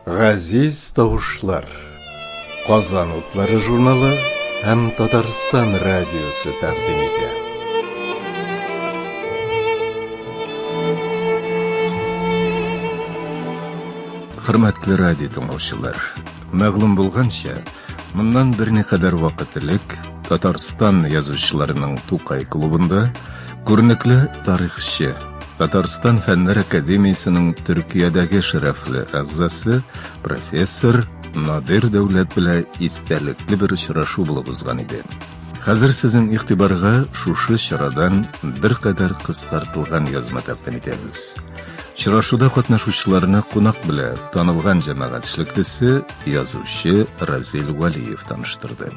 Газиз тавышлар. Казан утлары журналы һәм Татарстан радиосы тәкъдим итә. Хөрмәтле радио тыңлаучылар, Мәгълүм булганча, моннан берникадәр вакыт элек Татарстан язучыларының Тукай клубында күренекле тарихчы, Татарстан Фәннәр академиясенең Төркиядәге шәрәфле әгъзасы, профессор Надир Дәүләт белән истәлекле бер очрашу булып узган иде. Хәзер сезнең игътибарга шушы чарадан беркадәр кыскартылган язма тәкъдим итәбез. Чырашуда катнашучыларны кунак белә танылган җәмәгать эшлеклесе, язучы Разил Вәлиев таныштырды.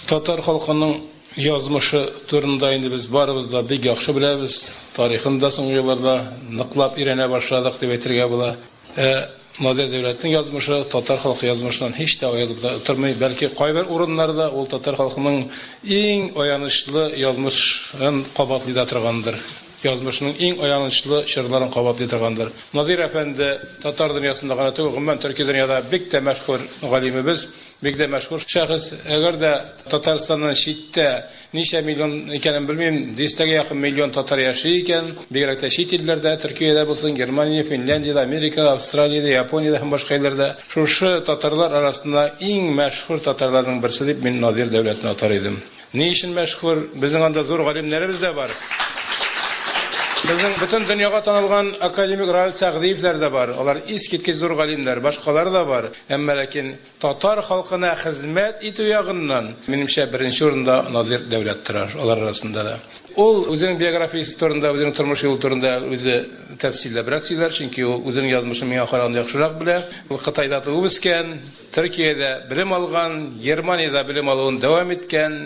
Татар халкының язмышы турында инде без барыбыз да бик яхшы беләбез, тарихын да соңгы елларда ныклап өйрәнә башладык дип әйтергә була. Ә Модерн дәүләтнең язмышы татар халкы язмышыннан һич тә аерылып та тормый, бәлки кайбер урыннарда ул татар халкының иң аянычлы язмышын кабатлый да торгандыр, язмышының иң аянычлы чорларын кабатлый торгандыр. Надир әфәнде татар дөньясында гына түгел, гомумән Төрки дөньяда бик тә мәшһүр галимебез, бик тә мәшһүр шәхес. Әгәр дә Татарстаннан читтә, Ничә миллион икәнен белмим, дистәгә якын миллион татар яши икән. Бигрәк тә чит илләрдә, Төркиядә булсын, Германия, Финляндиядә, Америкада, Австралиядә, Япониядә һәм башка илләрдә. Шушы татарлар арасында иң мәшһүр татарларның берсе дип мин Надир Дәүләтне атар идем. Ни өчен мәшһүр? Безнең анда зур галимнәребез дә бар. Безнең бөтен дөньяга танылган академик Раил Сәгъдиевләр дә бар. Алар искиткеч зур галимнәр. Башкалар да бар. Әмма ләкин. Татар халкына хезмәт итү ягыннан, минемчә, беренче урында Надир Дәүләт тора алар арасында да. Ул үзенең биографиясе турында, үзенең тормыш юлы турында үзе тәфсилләбрәк сөйләр, чөнки ул үзенең язмышын миңа караганда яхшырак белә. Ул Кытайда туып үскән, Төркиядә белем алган, Германиядә белем алуын дәвам иткән,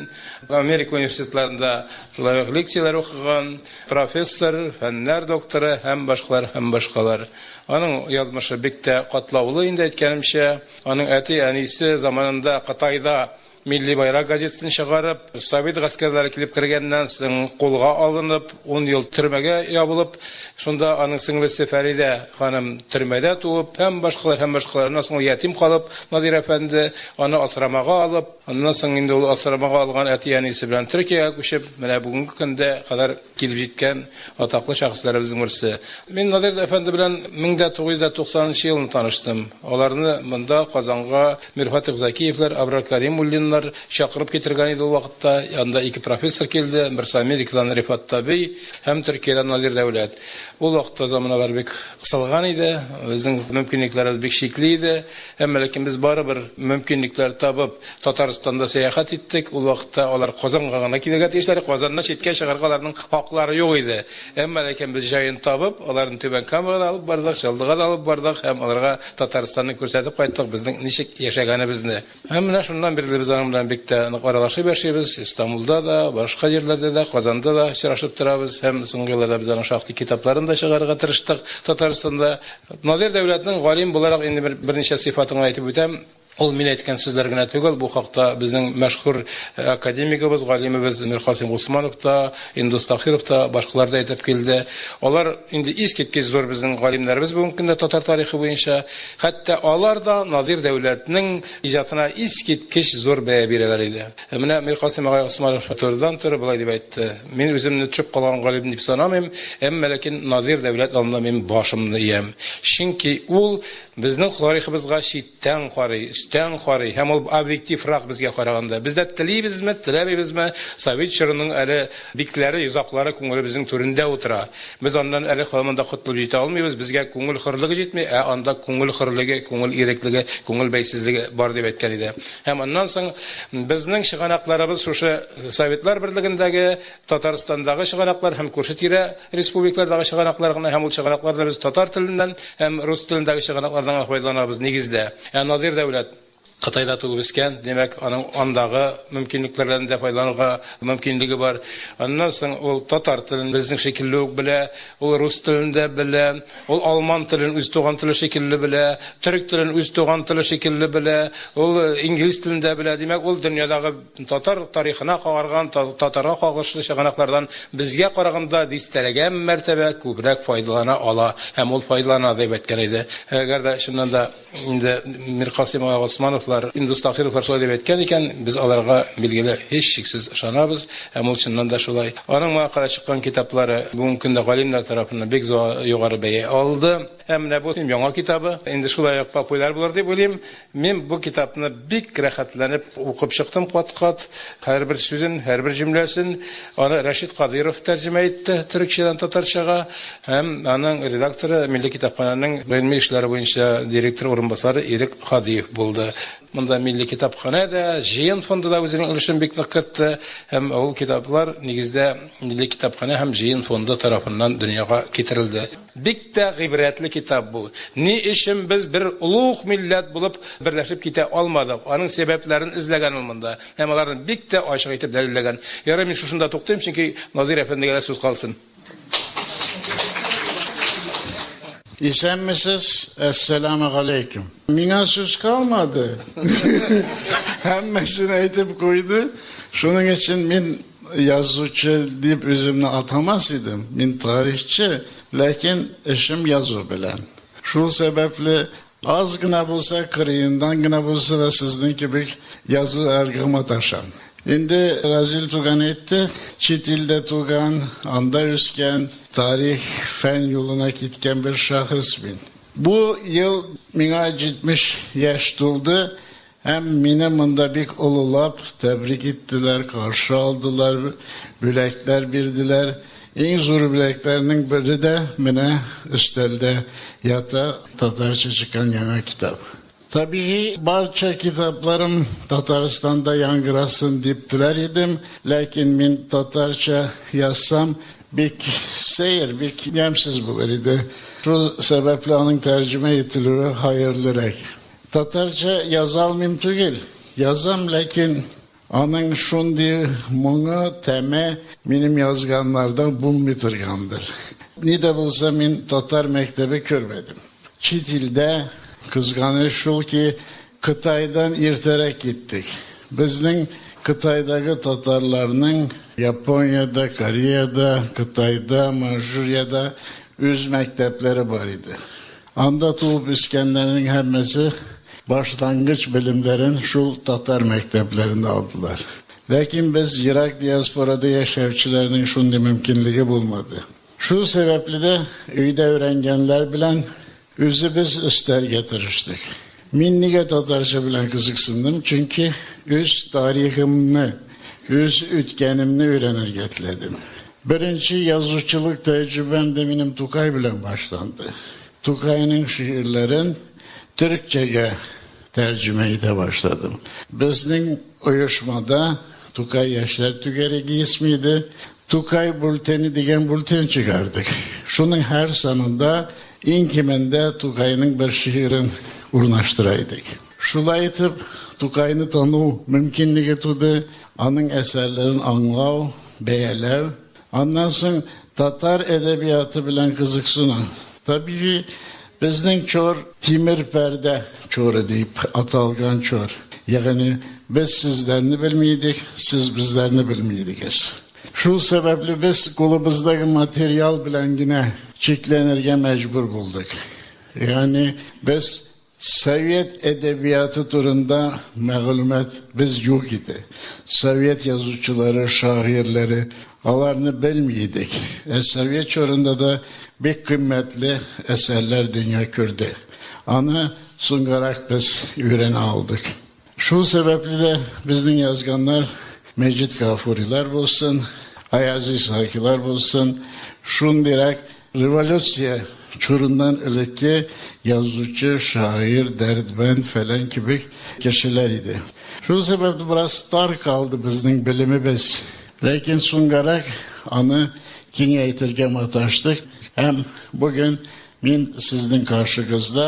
Америка университетларында лаек лекцияләр укыган, профессор, фәннәр докторы һәм башкалар, һәм башкалар. Аның язмышы бик тә катлаулы инде, әйткәнемчә. Аның әти-әнисе заманында Кытайда Милли байрак газетасын чыгарып, совет гаскәрләре килеп кергәннән соң кулга алынып, ун ел төрмәгә ябылып, шунда аның сеңлесе Фәридә ханым төрмәдә туып, һәм башкалар, һәм башкалар. Аннан соң ул ятим калып, Надир әфәнде аны асрамага алып, аннан соң инде ул асрамага алган әти-әнисе белән Төркиягә күчеп, менә бүгенге көндә кадәр килеп җиткән атаклы шәхесләребезнең берсе. Мин Надежда әфәнде белән 1990 нчы елны таныштым. Аларны монда, Казанга, Мирфатих Закиевләр, Абрар Кәримуллиннар чакырып китергән иде ул вакытта. Анда ике профессор килде, берсе Америкадан Рифат Табей һәм Төркиядән Надир Дәүләт. Ул вакытта заманалар бик кысылган иде, безнең мөмкинлекләребез бик чикле иде. Әмма ләкин без барыбер мөмкинлекләр табып, Татарстанда сәяхәт иттек. Ул вакытта алар Казанга гына килергә тиешләр, Казаннан читкә чыгарга аларның хаклары юк иде. Әмма ләкин без җаен табып, аларны Түбән Камага да алып бардык, Чаллыга да алып бардык һәм аларга Татарстанны күрсәтеп кайттык, безнең ничек яшәгәнебезне. Һәм менә шуннан бирле без аның белән бик тә нык аралашып яшибез, Истанбулда да, башка җирләрдә дә, Казанда да очрашып торабыз һәм соңгы елларда без аның шактый китапларын да чыгарырга тырыштык Татарстанда. Надир Дәүләтнең галим буларак инде бер берничә сыйфатын гына әйтеп үтәм. Ул мин әйткән сүзләр генә түгел, бу хакта безнең мәшһүр академигыбыз, галимебез Миркасыйм Госманов та, Индус Таһиров та, башкалар да әйтеп килде. Алар инде искиткеч зур безнең галимнәребез бүгенге көндә татар тарихы буенча. Хәтта алар да Надир Дәүләтнең иҗатына искиткеч зур бәя бирәләр иде. Ә менә Миркасыйм агай Госманов фатирдан торып болай дип әйтте, Мин үземне төшеп калган галим дип санамыйм, әмма ләкин Надир Дәүләт алдында мин башымны иям. Чөнки ул безнең тарихыбызга читтән карый, өстән карый һәм ул объективрак безгә караганда. Без дә телибезме, теләмибезме, совет чорының әле битләре, йозаклары күңелебезнең түрендә утыра. Без аннан әле каян да котылып җитә алмыйбыз, безгә күңел хөрлеге җитми, ә анда күңел хөрлеге, күңел иреклеге, күңел бәйсезлеге бар дип әйткән иде. Һәм аннан соң безнең чыганакларыбыз шушы Советлар Берлегендәге, Татарстандагы чыганаклар һәм күрше-тирә республикалардагы чыганаклар гына, һәм ул чыганакларда без татар теленнән һәм рус телендәге чыганаклардан гына файдаланабыз, нигездә. Ә Надир Дәүләт? Кытайда туып-үскән, димәк, аның андагы мөмкинлекләрдән дә файдаланырга мөмкинлеге бар. Аннан соң ул татар телен безнең шикелле үк белә, ул рус телен дә белә. Ул алман телен үз туган теле шикелле белә, төрек телен үз туган теле шикелле белә, ул инглиз телен дә белә. Димәк, ул дөньядагы татар тарихына кагарган, татарга кагылышлы чыганаклардан безгә караганда дистәләгән мәртәбә күбрәк файдалана ала һәм ул файдалана, дип әйткән иде. Әгәр дә чыннан да. Инде Миркасыймова Госмановлар, Индус Таһировлар шулай дип әйткән икән, без аларга, билгеле, һичшиксез ышанабыз, һәм ул чыннан да шулай. Аның моңа кадәр чыккан китаплары бүгенге көндә галимнәр тарафыннан бик югары бәя алды. Ә менә бу яңа китабы инде шулай ук популяр булыр дип уйлыйм. Мин бу китапны бик рәхәтләнеп укып чыктым кат-кат, һәрбер сүзен, һәрбер җөмләсен. Аны Рәшит Кадыйров тәрҗемә итте төрекчәдән татарчага һәм аның редакторы Милли китапханәнең гыйльми эшләр буенча директор урынбасары Ирек Һадиев булды. Монда Милли китапханә дә, Җыен фонды да үзенең өлешен бик нык кертте һәм ул китаплар, нигездә, Милли китапханә һәм Җыен фонды тарафыннан дөньяга китерелде. Бик тә гыйбрәтле китап бу. Ни өчен без бер олуг милләт булып берләшеп китә алмадык, аның сәбәпләрен эзләгән ул монда һәм аларны бик тә ачык итеп дәлилләгән. Ярый, мин шушында туктыйм, чөнки Назыйр әфәндегә дә сүз калсын. Исәнмесез, Әссәләмү галәйкүм. Миңа сүз калмады, һәммәсен әйтеп куйды, шуның өчен мин Язучы дип үземне атамас идем, мин тарихчы, ләкин эшем язу белән. Шул сәбәпле, аз гына булса, кырыендан гына булса да сезнең кебек язу аркылы маташам. Инде Разил туган әйтте, чит илдә туган, анда үскән, тарих, фән юлына киткән бер шәхес мин. Бу ел миңа 70 яшь тулды. Һәм мине монда бик олылап тәбрик иттеләр, каршы алдылар, бүләкләр бирделәр. Иң зур бүләкләрнең бере дә менә өстәлдә ята, татарча чыккан яңа китап. Табигый, барча китапларым Татарстанда яңгырасын дип теләр идем, ләкин мин татарча язсам, бик сәер, бик ямьсез булыр иде. Шул сәбәпле аның тәрҗемә ителүе хәерлерәк. Татарча яза алмыйм түгел, язам, ләкин аның шундый моңы, тәме минем язганнардан булмый торгандыр. Ни дә булса мин татар мәктәбе күрмәдем. Чит илдә, кызганыч шул ки, Кытайдан иртәрәк киттек. Безнең Кытайдагы татарларның Япониядә, Кореядә, Кытайда, Манжурияда үз мәктәпләре бар иде. Анда туып үскәннәрнең һәммәсе башлангыч белемнәрен шул татар мәктәпләрендә алдылар. Ләкин без ерак диаспорада яшәүчеләрнең шундый мөмкинлеге булмады. Шул сәбәпле дә өйдә өйрәнгәннәр белән үзебез өстәргә тырыштык. Мин нигә татарча белән кызыксындым, чөнки үз тарихымны, үз үткәнемне өйрәнергә теләдем. Беренче язучылык тәҗрибәм дә минем Тукай белән башланды. Тукайның шигырьләрен төрекчәгә тәрҗемә итә башладым. Безнең оешмада Тукай яшьләр түгәрәге исми иде. Тукай бүлтәне дигән бүлтән чыгардык. Шуның һәр санында иң кимендә Тукайның бер шигырен урнаштыра идек. Шулай итеп, Тукайны тану мөмкинлеге туды. Аның әсәрләрен аңлау, бәяләү. Аннан соң татар әдәбияты белән кызыксыну. Табигый, безнең чор тимер пәрдә чоры дип аталган чор. Ягъни, без сезләрне белми идек, сез безләрне белми идегез. Шул сәбәпле без кулыбыздагы материал белән генә чикләнергә мәҗбүр булдык. Ягъни, без Совет әдәбияты турында мәгълүмат без юк иде. Совет язучылары, шагыйрьләре, аларны белми идек. Ә совет чорында да бик кыйммәтле әсәрләр дөнья күрде. Аны соңгарак без өйрәнә алдык. Шул сәбәпле дә безнең язганнар, Мәҗит Гафурилар булсын, Аязиз Закилар булсын, шундыйрак революция чорыннан элекке язучы, шагыйрь, Дәрдмәнд фәлән кебек кешеләр иде. Шул сәбәпле бераз тар калды безнең белемебез. Ләкин соңгарак аны киңәйтергә маташтык һәм бүген мин сезнең каршыгызда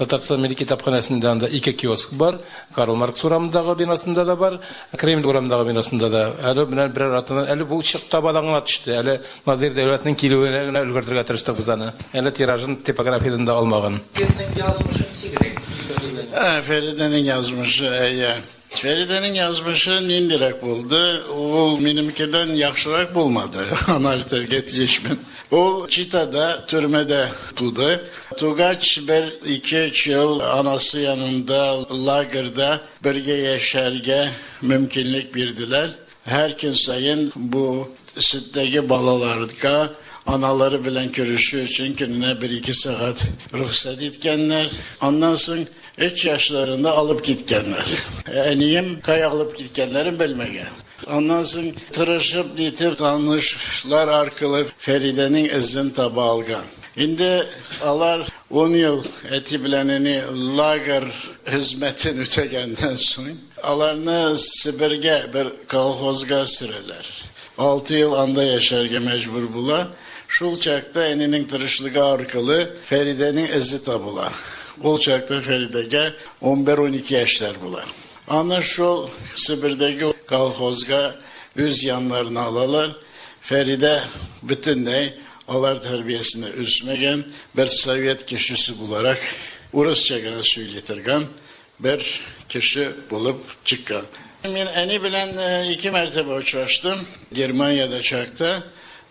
Татарстан милли китапханәсендә анда ике киоск бар. Карл Маркс урамындагы бинасында да бар, Кремль урамындагы бинасында да. Әле менә берәр атнадан, әле бу чык табадан гына төште. Әле Надир Дәүләтнең килүенә генә өлгертергә тырыштык без аны. Әле тиражын типографиядән дә алмаган. Сезнең язмышы ничегрәк? диде Фәридә. Ә, Фәридәнең язмышы, әйе. Фәридәнең язмышы ниндирәк булды? Ул минемкедән яхшырак булмады, аны әйтергә тиешмен. Ул Читада, төрмәдә туды. Тугач, бер-икеч ел анасы янында, лагерьда бергә яшәргә мөмкинлек бирделәр. Һәр көн саен бу сөттәге балаларга аналары белән күрешү өчен көненә бер-ике сәгать рөхсәт иткәннәр. Аннан соң өч яшьләрендә алып киткәннәр. Әнием кая алып киткәннәрен белмәгән. Аннан соң тырышып нитеп танышлар аркылы Фәридәнең эзен таба алган. Инде алар ун ел әти белән әни лагер хезмәтен үтәгәннән соң, аларны Себергә бер колхозга сөрәләр. Алты ел анда яшәргә мәҗбүр була. Шул чакта әнинең тырышлыгы аркылы Фәридәнең эзе табыла. Ул чакта Фәридәгә унбер-унике яшьләр була. Аны шул Себердәге колхозга үз яннарына алалар. Фәридә бөтенләй алар тәрбиясенә үсмәгән, бер совет кешесе буларак урысча гына сөйли торган бер кеше булып чыккан. Мин әни белән ике мәртәбә очраштым. Германиядә чакта,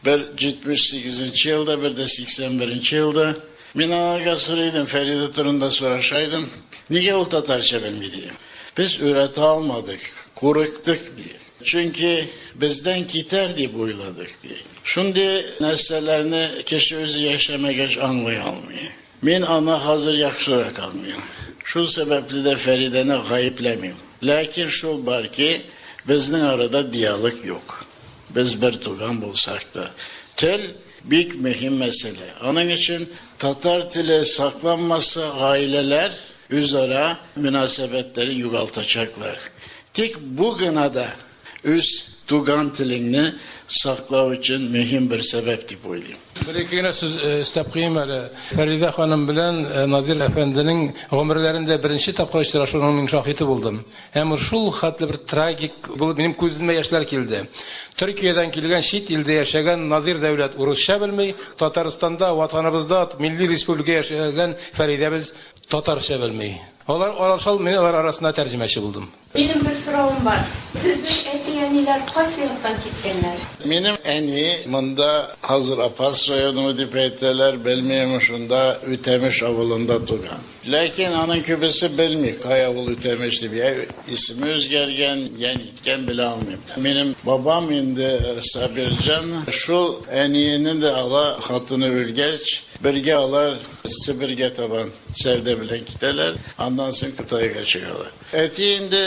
бер 78 нче елда, бер дә 81 нче елда. Мин аларга сорый идем, Фәридә турында сораша идем, нигә ул татарча белми, ди. Без өйрәтә алмадык, курыктык, ди. Чөнки бездән китәр дип уйладык, ди. Шундый нәрсәләрне кеше үзе яшәмәгәч аңлый алмый. Мин аны хәзер яхшырак аңлыйм. Шул сәбәпле дә Фәридәне гаепләмим. Ләкин шул бар ки, безнең арада диалог юк. Без бертуган булсак та, тел Бик мөһим мәсьәлә. Аның өчен татар теле сакланмаса, гаиләләр үзара мөнәсәбәтләрен югалтачаклар. Тик бу гына да үз туган телеңне саклау өчен мөһим бер сәбәп дип уйлыйм. Бер-ике генә сүз өстәп куйыйм әле. Фәридә ханым белән Надир әфәнденең гомерләрендә беренче тапкыр очрашуның мин шаһиты булдым. Һәм ул шул хәтле бер трагик булып, минем күземә яшьләр килде. Төркиядән килгән, чит илдә яшәгән Надир Дәүләт урысча белми, Татарстанда, Ватаныбызда, милли республика яшәгән Фәридәбез татарча белми. Алар аралашалар, мин алар арасында тәрҗемәче булдым. Минем бер соравым бар. Сезнең әти-әниләр кайсы яктан киткәннәр? Минем әни монда хәзер Апас районы дип әйтәләр, белмим, шунда Үтәмеш авылында туган. Ләкин аның күбесе белми, кая ул Үтәмеш дип, йә исеме үзгәргән, йә ниткән, белә алмыйм. Минем бабам инде Сабирҗан, шул әниене дә ала, хатыны үлгәч, бергә алар Себергә табан сәүдә белән китәләр, аннан соң Кытайга чыгалар. Әти инде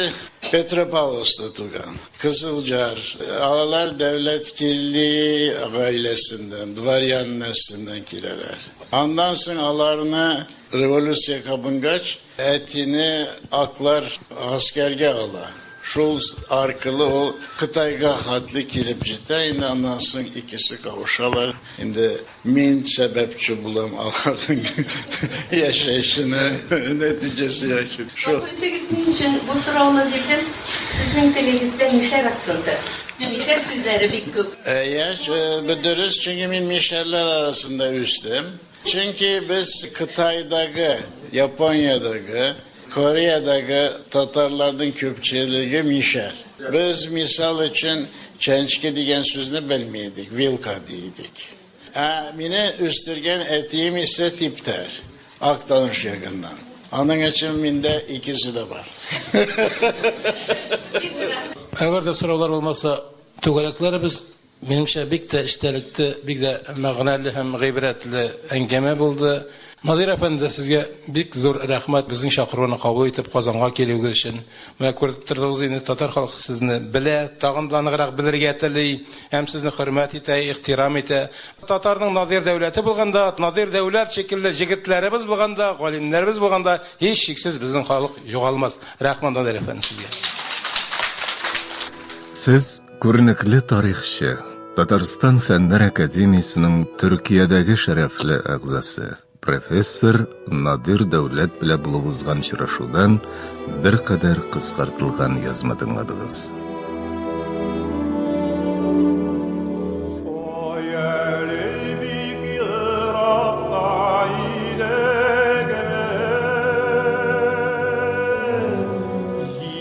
Петропавловскта туган, Кызылҗар. Алар Дәүләткилди гаиләсеннән, дворян нәселеннән киләләр. Аннан соң аларны Революция кабынгач, әтине аклар гаскәргә ала. Шул аркылы ул Кытайга хәтле килеп җитә инде, аннан соң икесе кавышалар. Инде мин сәбәпче булам аларның яшәешенә, нәтиҗәсе яки шул. Гафу итегез, ни өчен бу сорауны бирдем, сезнең телегездә мишәр акценты, мишәр сүзләре бик күп. Әйе, бу дөрес, чөнки мин мишәрләр арасында үстем. Чөнки без Кытайдагы, Япониядәге, Кореядәге татарларның күпчелеге мишәр. Без, мисал өчен, чәнчке дигән сүзне белми идек, вилка ди идек. Ә мине үстергән әтием исә типтәр, Актаныш ягыннан. Аның өчен миндә икесе дә бар. Әгәр дә сораулар булмаса, түгәрәкләребез. Минемчә, бик тә эчтәлекле, бик дә мәгънәле һәм гыйбрәтле әңгәмә булды. Надир әфәнде, сезгә бик зур рәхмәт безнең чакыруны кабул итеп Казанга килүегез өчен. Менә күреп тордыгыз инде, татар халкы сезне белә, тагын да ныграк белергә тели һәм сезне хөрмәт итә, ихтирам итә. Татарның Надир Дәүләте булганда, Надир Дәүләт шикелле җегетләребез булганда, галимнәребез булганда, һичшиксез безнең халык югалмас. Рәхмәт, Надир әфәнде, сезгә. Сез Күренекле тарихчы, Татарстан Фәннәр академиясенең Төркиядәге шәрәфле әгъзасы, профессор Надир Дәүләт белә булып узган чырашудан беркадәр кыскартылган язма тыңладыгыз.